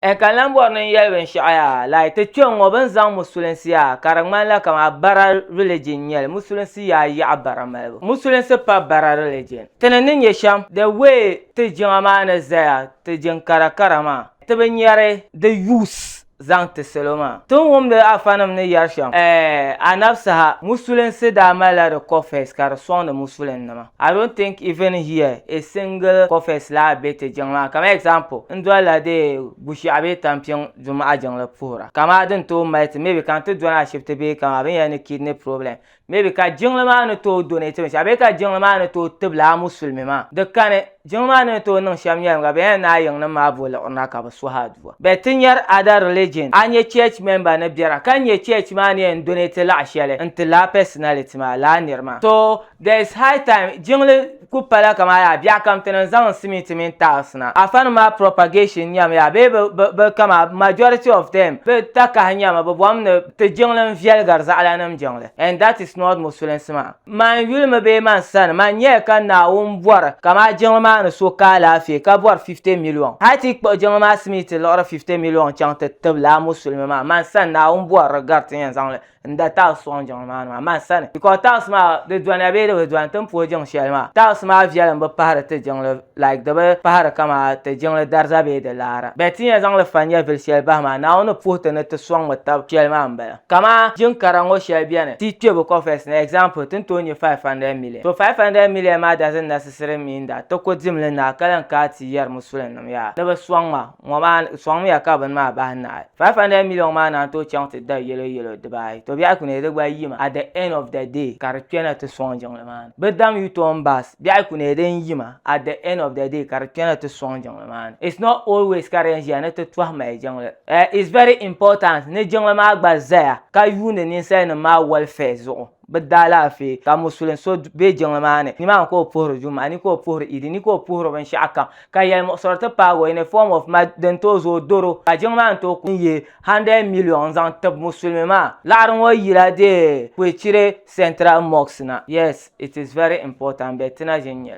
N ka lan bɔri ni n yɛli binshɛɣu yaa, like ti kpe ŋ-ŋɔ bɛ ni zaŋ musulinsi yaa ka di ŋmanila kamani bara religion n-nyɛli, musulinsi yaa yaɣi bara malibu, musulinsi pa bara religion. Ti ni ni nyɛ shɛm, the way ti jiŋa maa ni zaya, ti jiŋ kara kara maa, ti bi nyari di use zaŋ ti salo maa. Ti ni wumdi Afanim ni yɛri shɛm, eh, a nab saha, musulinsi daa malila di coffers ka di sɔŋdi musulinnima. I don't think even here a single cofes laa be ti jiŋ maa kamani example n dolila di Bushiaɣu bee Tampiŋ Dumaɣa jiŋli puhira ka maa din tooi mali ti maybe ka n ti dɔni ashibiti bee kamani binyɛra ni kidney problem maybe ka jiŋli maa ni tooi donate binshɛɣu bee ka jiŋli maa ni tooi tibila a musulimi maa di kani jiŋli maa ni ni tooi niŋ shɛm nyɛlim ka binyɛra ni a yiŋnim maa bo liɣirina ka bi suhi aduwa but ti nyari other religion a nya church member ni biɛra ka n nya church maa ni yɛn donate laɣa shɛli n ti laa personality maa laa niri maa so There is high time jiŋli ku pala kaman yaa biɛɣu kam ti niŋ zaŋ simiti mini tiles na. Afanima maa propagation nyami yaa bee bɛ bɛ bɛ kama majority of them bɛ takahi nyami bɛ bom ni ti jiŋli n viɛligiri zaɣalanim jiŋli and that is not musulinsi maa. Man yuli mi bee man sani man nyɛya ka Naawuni bɔri ka maa jiŋli maa ni so ka alaafee ka bɔri 50 million hali ti yi kpuɣi jiŋli maa simiti liɣiri 50 million chaŋ ti tib lala musulimi maa man sani Naawuni bɔri di gari ti ni yɛn zaŋli n da taɣis sɔŋ jiŋli maa ni maa man sani because taɣis maa di doniya bee di bi doni ti ni puhi jiŋ shɛli maa taɣis maa viɛlim bi pahiri ti jiŋli like di bi pahiri kama ti jiŋli dariza bee di laara bɛ ti nya zaŋli fa nyɛvili shɛli bahi maa Naawuni ni puhi ti ni ti sɔŋmi tab shɛli maa m-bala kaman jiŋ kara ŋɔ shɛli beni ti kpe bi coffers ni example ti ni tooi nya 500 million so 500 million maa doesn't necessarily mean that ti ku dimli naai ka lan kaai ti yɛri musulinima yaa ni bɛ sɔŋ ma ŋɔ maa sɔŋmiya ka bini maa bahi nahi 500 million maa naan tooi chaŋ ti da yɛlo yɛlo dibaayi to biɛhi kunee di gba yimi at the end of the day ka di kpɛna ti sɔŋ jiŋli maa ni bi dam u-turn bus biɛhi kunee din yima at the end of the day ka di kpɛna ti sɔŋ jiŋli maa ni it's not always ka di yɛn ʒiya ni ti tɔhi mali jiŋli eh it's very important ni jiŋli maa gba zaya ka yuuni ninsali nim maa welfare zuɣu. bɛ daalaafee ka musulin so be jiŋli maa ni, nimaani ka o puhiri Juma'a ni ka o puhiri Idi ni ka o puhiri binshɛɣu kam ka yɛlimuɣisiri ti paagi o in a form of mad din tooi zooi doro ka jiŋli maa ni tooi kuli yihi 100 million n-zaŋ tib musulimi maa. Laɣiri ŋɔ yila deei Kwechire Central Mosque na. Yes, it is very important but ti na ʒini nyɛli.